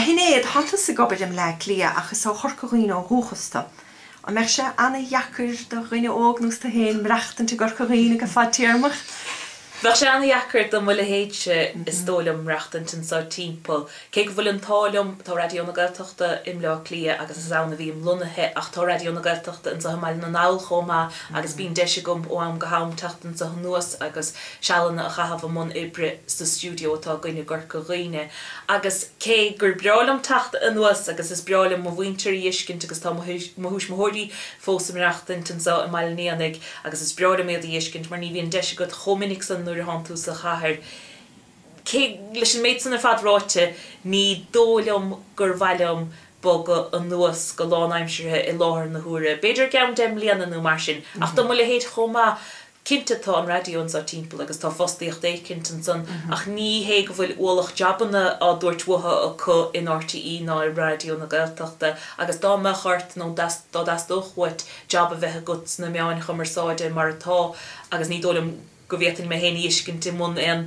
A Shinéad, thánn tusa ag obair i mBleá Cliath ach is ó Chorca Dhuibhne ó dhúchas tu. An mbeadh sé ana-dheacair do dhuine óg nós tú fhéin maireachtaint i gCorca Dhuibhne go fadtéarmach? Bheadh sé ana-dheacair do mo leithéidse is dóigh liom maireachtaint anso timpeall, cé go bhfuil an t-ádh liom, tá Raidió na Gaeltachta i mBleá Cliath agus is ann a bhím lonnaithe ach tá Raidió na Gaeltachta anso i mBaile na nGall chomh maith agus bíonn deis agam ó am go ham teacht anso anuas agus sealanna a chaitheamh i mbun oibre sa stiúideo atá againn i gCorca Dhuibhne. Agus cé gur breá liom teacht anuas agus is breá liom mo mhuintir a dh'fheiscint agus tá mo thuismitheoirí fós ag maireachtaint anso i mBaile an Éanaigh agus is breá liom iad a dh'fheiscint mar ní bhíonn deis agat chomh minic san nuair a thánn tú sa chathair, cé, leis an méid san ar fad ráite, ní dóigh liom gur mhaith liom bogadh anuas go lánaimseartha i láthair na huaire, b'fhéidir i gceann deich mbliana nó mar sin, ach do mo leithéid chomh maith Cinnte tá an raidió anso timpeall agus tá fostaíocht éicint ansan ach ní hé go bhfuil ualach jabanna á dtabhairt uathu acu in RTÉ ná i Raidió na Gaeltachta agus dá mbeadh ort nó dá dteastódh uait jab a bheith agat sna meáin chumarsáide mar atá agus ní dóigh liom go bhféadfainn mé féin a fheiscint i mbun aon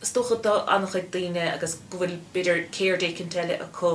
Is dócha do ana-chuid daoine agus go bhfuil, b'fhéidir, ceird éicint eile acu,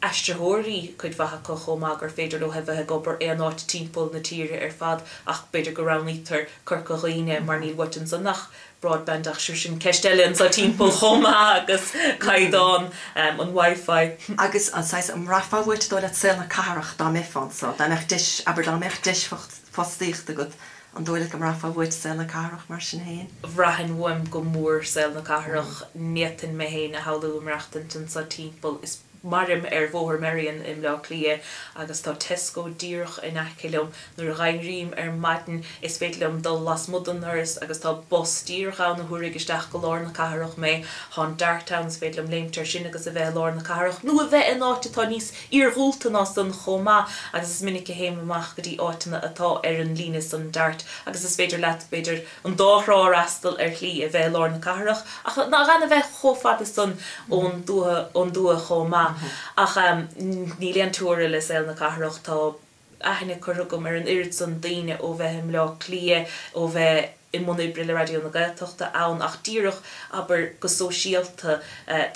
aistritheoirí cuid mhaith acu chomh maith, gur féidir leo a bheith ag obair aon áit timpeall na tíre ar fad ach b'fhéidir go roghnaítear Corca Dhuibhne mar níl uait ansan ach broadband ach sure sin ceist eile anso timpeall chomh maith agus caighdeán an WiFi. Agus an saghas, an mbraithfeá uait dóigh leat saol na cathrach dá mbeifeá anso, dá mbeadh deis, abair dá mbeadh deis fostaíochta agat An dóigh leat go mbraithfeá uait saol na cathrach mar sin féin? Bhraithfinn uaim go mór saol na cathrach. N'fhéadfainn mé féin a shamhlú ag maireachtaint anso timpeall. Is mairim ar Bhóthar Merrion i mBleá Cliath agus tá Tesco díreach in aice liom. Nuair a dh'éirím ar maidin is féidir liom dul lasmuigh den ndoras agus tá bus díreach ann a thabharfaidh isteach go lár na cathrach mé. Tá an Dart ann, is féidir liom léimt air sin agus a bheith i lár na cathrach, nó a bheith in áit atá níos iargúlta ná san chomh maith agus is minic a théim amach go dtí áiteanna atá ar an líne san Dart agus is féidir leat, b'fhéidir, an dá thrá a fhreastal ar shlí, a bheith i lár na cathrach ach gan a bheith chomh fada san ón dtuath chomh maith. Ach níl aon teora le saol na cathrach. Tá. aithne curtha agam ar an oiread san daoine ó bheith i mBleá Cliath, ó bheith i mbun oibre le Raidió na Gaeltachta ann, ach díreach, abair, go sóisialta,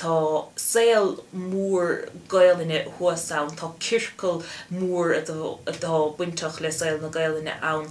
tá saol mór Gaelainne thuas ann, tá ciorcal mór atá bainteach le saol na Gaelainne ann,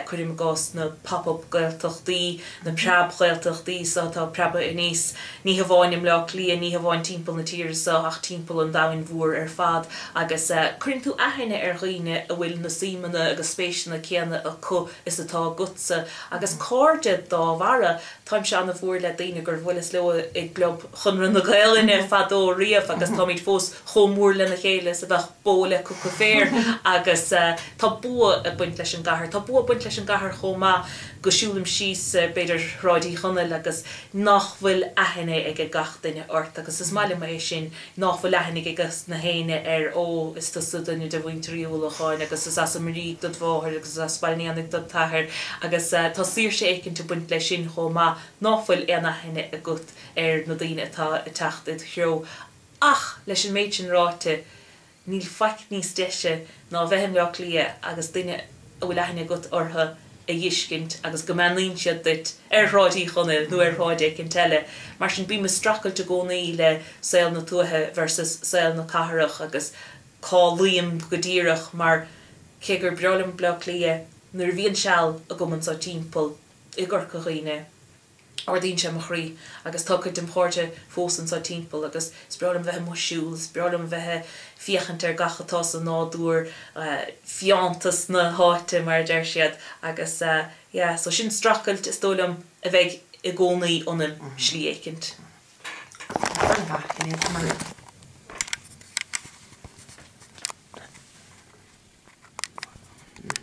cuirim i gcás na Pop-Up Gaeltachtaí, na preab-Ghaeltachtaí so atá preabtha aníos, ní hamháin i mBleá Cliath, ní hamháin timpeall na tíre so ach timpeall an domhain mhóir ar fad agus cuireann tú aithne ar dhaoine a bhfuil na suímeanna agus spéiseanna céanna acu is atá agatsa agus cairde dá bharra. Táimse an-mhór le daoine gur bhuileas leo i gClub Chonradh na Gaelainne fadó riamh agus táimid fós chomh mór lena chéile is a bheadh bó le coca féir agus tá bua ag baint leis an gcathair. Tá bua ag baint leis an gcathair chomh maith go siúlaim síos, b'fhéidir, Shráid Uí Chonaill agus nach bhfuil aithne ag gach duine ort agus is maith liom é sin, nach bhfuil aithne ag na héinne ar Ó, is tusa duine de mhuintir Uí Uallacháin agus is as an Muirígh dod mháthair agus is as Baile an Fheannaigh dod t'athair agus tá saoirse éicint ag baint leis sin chomh maith nach bhfuil aon aithne agat ar na daoine atá ag teacht id threo. Ach, leis an méid sin ráite, níl faic níos deise ná a bheith i mBleá Cliath agus daoine a bhfuil aithne agat orthu a fheiscint agus go mbeannaíonn siad duit ar Shráid Uí Chonaill nó ar shráid éicint eile. Mar sin, bím ag streachailt i gcónaí le saol na tuaithe versus saol na cathrach agus cá luím go díreach mar, cé gur breá liom Bleá Cliath, nuair a bhíonn seal agam anseo timpeall i gCorca Dhuibhne, Ardaíonn sé mo chroí agus tá cuid dem' chairde fós anso timpeall agus is breá liom a bheith amuigh ag siúl, is breá liom a bheith ag féachaint ar gach atá sa nádúr, fiántas na háite mar a deir siad agus yeah so sin streachailt is dóigh liom a bheidh i gcónaí ionam slí éicint.